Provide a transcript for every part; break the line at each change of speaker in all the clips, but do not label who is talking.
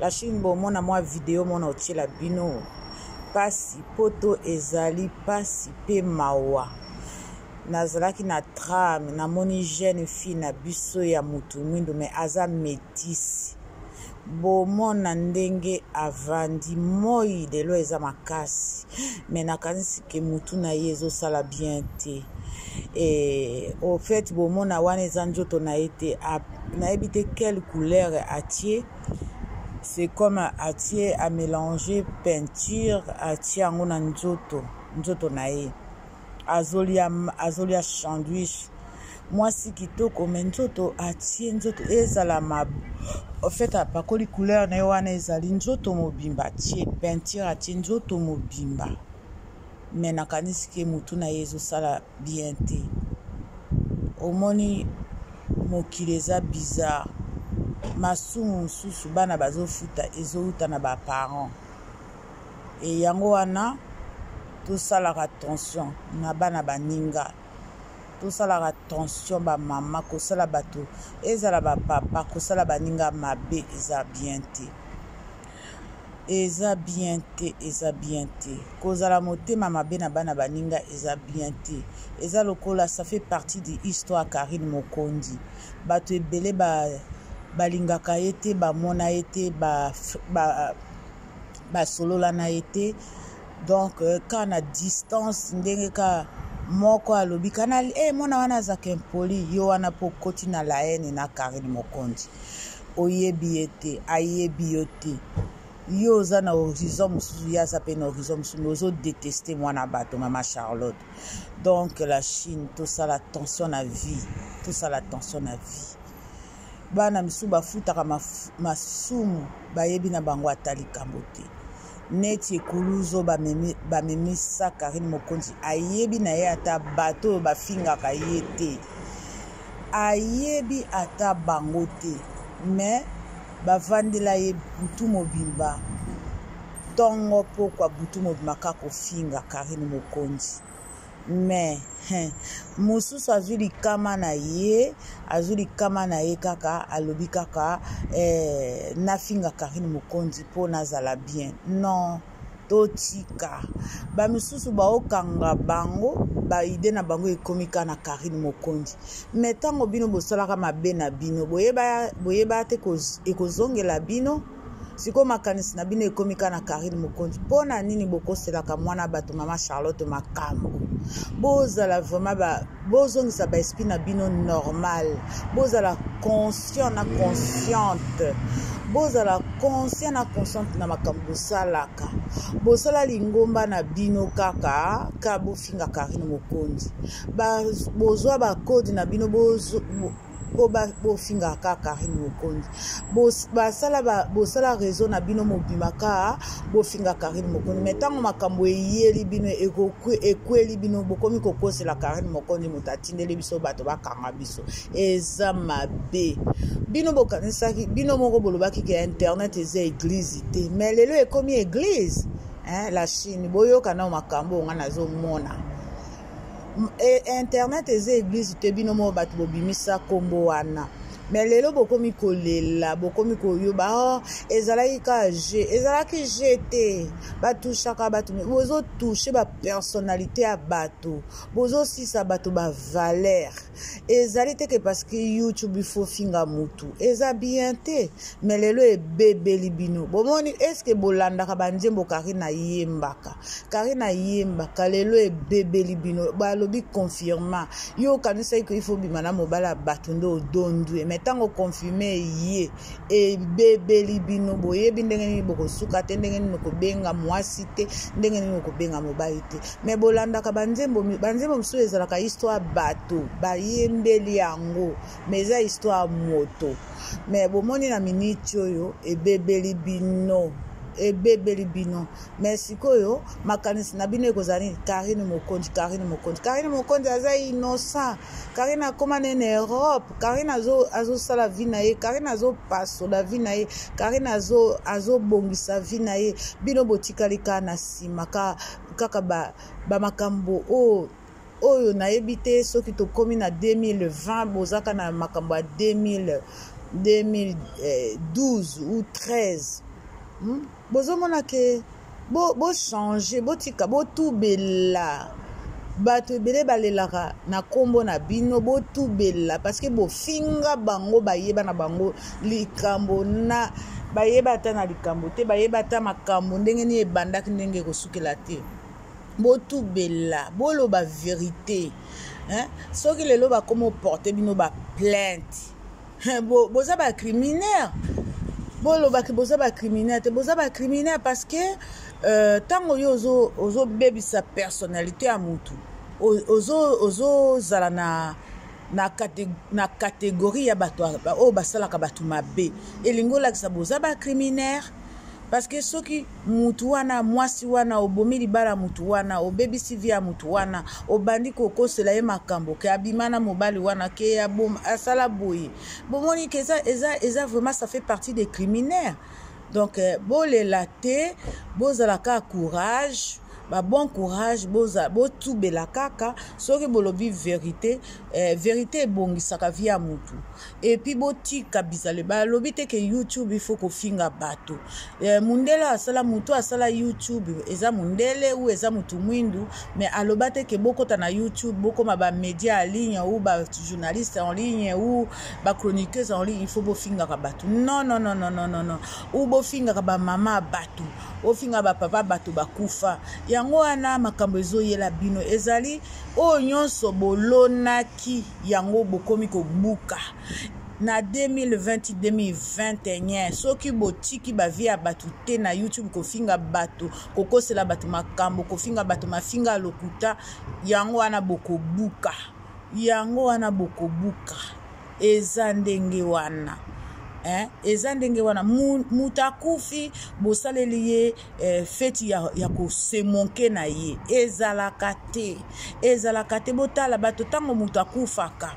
La Chine bomona mwa video mona otyela bino mpasi poto ezali mpasi mpe mawa nazalaki na trame namoni jeune fille na biso ya motu mwindu me aza metisi bomona ndenge avandi moi lelo eza makasi me nakanisi ke motu na ye ezosala bien te e, au fait bomona wana eza nzoto na ye te nayebi te quelle couleur atie c'est comme atie amélange peinture atie yango na nzoto nzoto na ye azolia azolia sandwich mwasi kitoko me nzoto atie nzoto ezala ma ofete apakoli couleur na ye wana ezali nzoto mobimba atie peinture atie nzoto mobimba me nakanisi ke motu na ye ezosala bien te omoni mokili eza bizarre masumu mosusu bana bazofuta ezowuta na baparent e yango wana tosalaka tension na bana baninga tosalaka tension bamama kosala bato ezala bapapa kosala baninga mabe eza bien te eza bien te eza bien te kozala motema mabe na bana baninga eza bien te eza lokola ça fait partie de histoire karine mokonzi bato ebele ba, balingaka ye te bamona ye te basolola ba, ba na ye te donc euh, ka na distance ndenge ka moko alobi kana e eh, mwana wana azaka impoli yo wana mpo okoti na la haine na karine mokonzi oyebi ye te ayebi yo te yo oza na horizon mosusu ye aza mpe na horizon mosusu me ozodeteste mwana bato mama charlotte donc la chine tosala attention na vie tosala attention na vie bana misusu bafutaka masumu bayebi na bango ata likambo te neti ekuluzo bamemi bamemi sa Carine Mokonzi ayebi na ye ata bato oyo bafingaka ye te ayebi ata bango te mais bavandela ye butu mobimba ntongo mpokwa butu mobimba kaka kofinga Carine Mokonzi mais hein, mosusu azwi likama na ye azwi likama na ye kaka alobi kaka eh, nafinga karine mokonzi mpo nazala bien non totika bamisusu baokanga bango baide na bango ekomi kaka na karine mokonzi me ntango bino bosalaka mabe na bino boyeba, boyeba te ekozongela bino sikoyo makanisi na bino ekomi kaka na karine mokonzi mpo na nini bokoselaka mwana bato mama charlotte makambo bozala vraiment ba, bozongisa baesprit na bino normal bozala conscient na consciente bozala conscient na consciente na makambo bosalaka bosala lingomba na bino kaka ka bofinga karine mokonzi bozwa bakode na bino po bofinga kaka karine mokonzi basala bosala réseau na bino mobima kaka bofinga karine mokonzi mai ntango makambo eyeli bino ekweli bino bokomi kokosela karine mokonzi moto atindeli biso bato bakanga biso eza mabe bino bokanisaki bino moko bolobaki ke internet eza eglize te mai lelo ekomi eglize eh, la chine boyoka nao makambo oyo ngai nazomona e, internet eza eglise te bino moko bato bobimisa nkombo wana me lelo bokomi kolela bokomi koyoba oh, ezalaki kaka je ezalaki je te batushaka bato bozotushe bapersonnalité ya bato bozosisa bato bavalere ezali te ke parce que youtube il faut finga mutu eza bien te me lelo ebebeli bino bomoni eske bolandaka banzembo karine ayembaka karine ayembaka lelo ebebeli bino balobi confirma yo okanisaki ko ifo bima na mobali ya bato nde odondue me ntango confirme eye ebebeli bino boyebi ndenge nini bokosuka te ndenge nini okobenga mwasi te ndenge nini okobenga mobali te me bolandaka banzembo banzembo mosusu ezalaka histoire bato bayembeli yango me eza histoire moto me bomoni na miniti oyo ebebeli bino ebebeli bino me sikoyo makanisi na bino ekozala nini karine mokonzi karine mokonzi karine mokonzi aza innocent karine akoma ne na europe karine azosala vi na ye karine azopasola vi na ye karine azobongisa vi na ye bino botikali kaka na nsima ka kaka ba, ba makambo oyo oyo nayebi te soki tokomi na 2020 bozaka na makambo ya 2000 2012 ou 13 hmm? bozomona ke bochange bo botika botubela bato ebele balelaka na nkombo na bino botubela parceke bofinga bango bayeba na bango likambo na bayeba ata na likambo te bayeba ata makambo ndenge nini ebandaki ndenge ekosukela te botubela boloba verite hein? soki lelo bakoma oporte bino baplainte bo, boza bacriminaire bolobaki boza bacriminaire te boza bacriminaire parce que ntango euh, yo ozobebisa ozo personnalité ya motu ozozala ozo na na, kate, na kategori ya bato oyo basalaka bato mabe elingi olakisa boza bacriminaire parceke soki mutu wana mwasi wana obomi libala mutu wana obebisi vi ya mutu wana obandi kokosela ye makambo ke abima na mobali wana ke asala boye bomoni ke eza, eza, eza vraiment ça fait partie des criminaire donc eh, bolela te bozala kaka courage ba bon courage boza botubela kaka soki bolobi verité eh, verité ebongisaka vie ya motu epuis botika bizale balobi te ke youtube ifo kofinga bato eh, mundele asala motu asala youtube eza mundele ou eza motu mwindu me aloba te ke bokota na youtube bokoma bamédia ya ligne ou bajournaliste en ligne ou ba chroniqueuse en ligne il faut bofingaka bato non non non non non non ou bofingaka bamama ya bato ofinga bapapa bato bakufa yango wana makambo ezoyela bino ezali oyo nyonso bolonaki yango bokomi kobuka na 2020-2021 soki botiki bavie ya bato te na youtube kofinga bato kokosela bato makambo kofinga bato mafinga ya lokuta yango wana bokobuka Yango wana bokobuka. Eza ndenge wana. Eh, eza ndenge wana moto akufi bosaleli ye eh, feti ya, ya kosemonke na ye ezalaka te ezalaka te botala bato ntango moto akufaka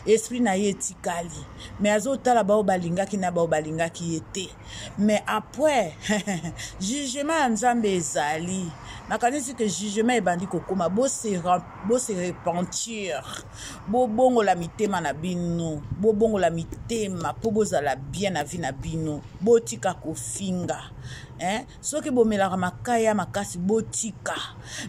esprit na ye etikali me azotala bao balingaki na bao balingaki ye te me après jugement ya nzambe ezali nakanisi ke jugement ebandi kokoma bose bo se repentir bobongola mitema na bino bobongola mitema mpo bozala bien na vie na bino botika kofinga eh? soki bomelaka makaya makasi botika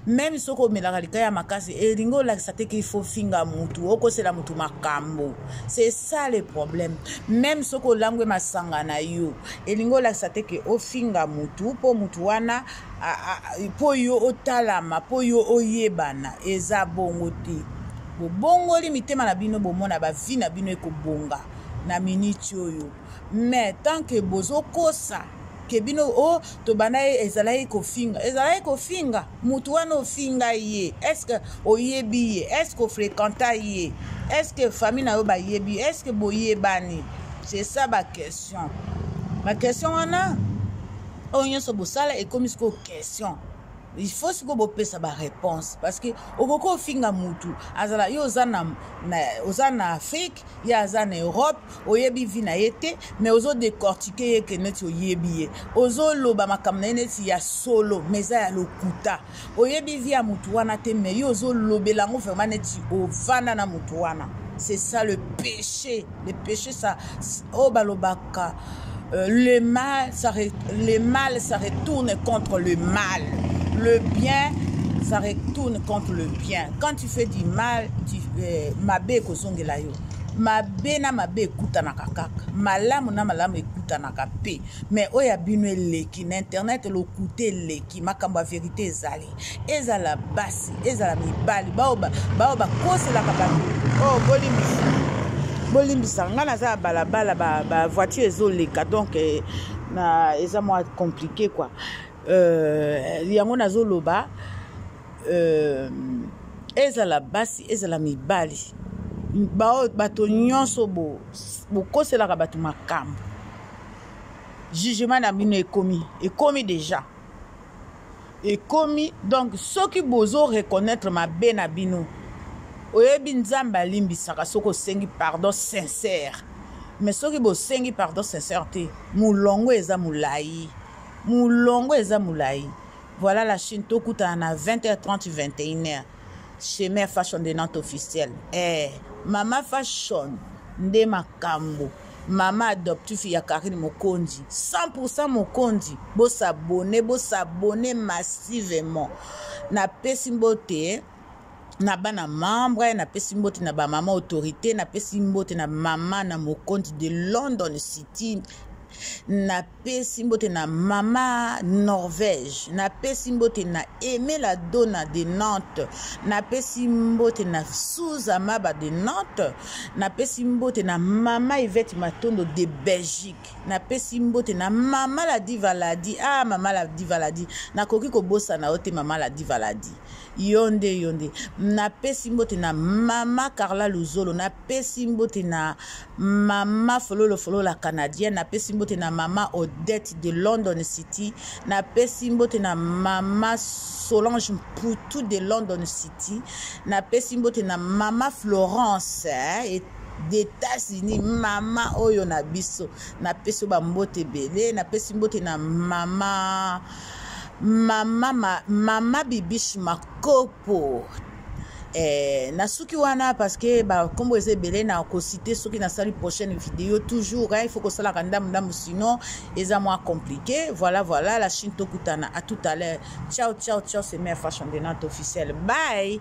meme soki omelaka likaya makasi elingi olakisa te kifo ofinga mutu okosela mutu makambo c'est ça le problème meme soki olangwe masanga na yo elingi olakisa te ke ofinga mutu mpo mutu wana mpo yo otalama mpo yo oyebana eza bongo te bobongoli mitema na bino bomona bavi na bino ekobonga na miniti oyo mais tant que bozokosa ke bino o oh, tobanda ye ezalaki kofinga ezalaki kofinga motu wana ofinga ye estce oyebi ye estce ofrekanta ye estce famille na yo bayebi estce boyebani c'est ça baquestion baquestion wana oyo nyonso bosala ekomi sikoyo question il faut sikoyo bopesa baréponse parce que okoki ofinga mutu azala yo oza na, na, oza na afrique ye aza na europe oyebi vi na ye te mais ozo décortique ye ke neti oyebi ye ozoloba makambo na ye neti ya solo mais eza ya lokuta Oyebi vie ya mutu wana te mais yo ozo lobela yango vraiment neti ovanda na mutu wana. C'est ça le péché. Le péché ça oh balobaka euh, le mal ça le mal ça retourne contre le mal. Le bien ça retourne contre le bien. Quand tu fais du mal, tu euh, mabe kozongela yo. mabe na mabe ekutanaka kaka malamu na malamu ekutanaka mpe me oyo ya bino eleki na internet lokuta eleki ndoki makambo ya verite ezali ezala basi ezala mibali baoyo bakoselaka bato oyo oh, bolimbisa bolimbisa ngai naza ya balabala bavoiture ezoleka donc eh, na eza mwa compliqué kua euh, yango nazoloba euh, ezala basi ezala mibali baoyo bato nyonso bokoselaka bato makambo jugement na bino ekomi ekomi deja ekomi donc soki bozo reconnaître mabe na bino oyebi nzambe alimbisaka soki osengi pardon sincère mais soki bosengi pardon sincère te molongo eza molai molongo eza molai voilà la chine tokutana na 20h30 21h chez mère fashion de nante officielle eh mama fashion nde makambo mama adoptif ya karine mokonzi 100 mokonzi bosabone bosabone massivement napesi mbote na bana membre napesi mbote na bamama autorité napesi mbote na mama na mokonzi de london city na pesi mbote na mama norvège napesi mbote na emela dona de nantes napesi mbote na suza maba de nantes napesi mbote na mama ivete matondo de belgique napesi mbote na mama la divaladi ah mama la divaladi nakoki kobosana yo te mama la divaladi yo nde yo nde napesi mbote na mama carla luzolo na napesi mbote na mama fololo fololo la canadienne napesi mbote na mama odette de london city napesi mbote na mama solange mputu de london city napesi mbote na mama florence eh, d'états-unis mama oyo na biso napesi bambote ebele napesi mbote na mama mama mama bibishi makopo Eh, nasuki wana parce que bakombo eza ebele na kosite soki nasali prochaine video toujours hein, il faut kosalaka ndambu ndambu sinon eza mwa compliqué voilà voilà la chine tokutana à tout à l'heure ciao ciao ciao c'est mère fashion de nante officielle bye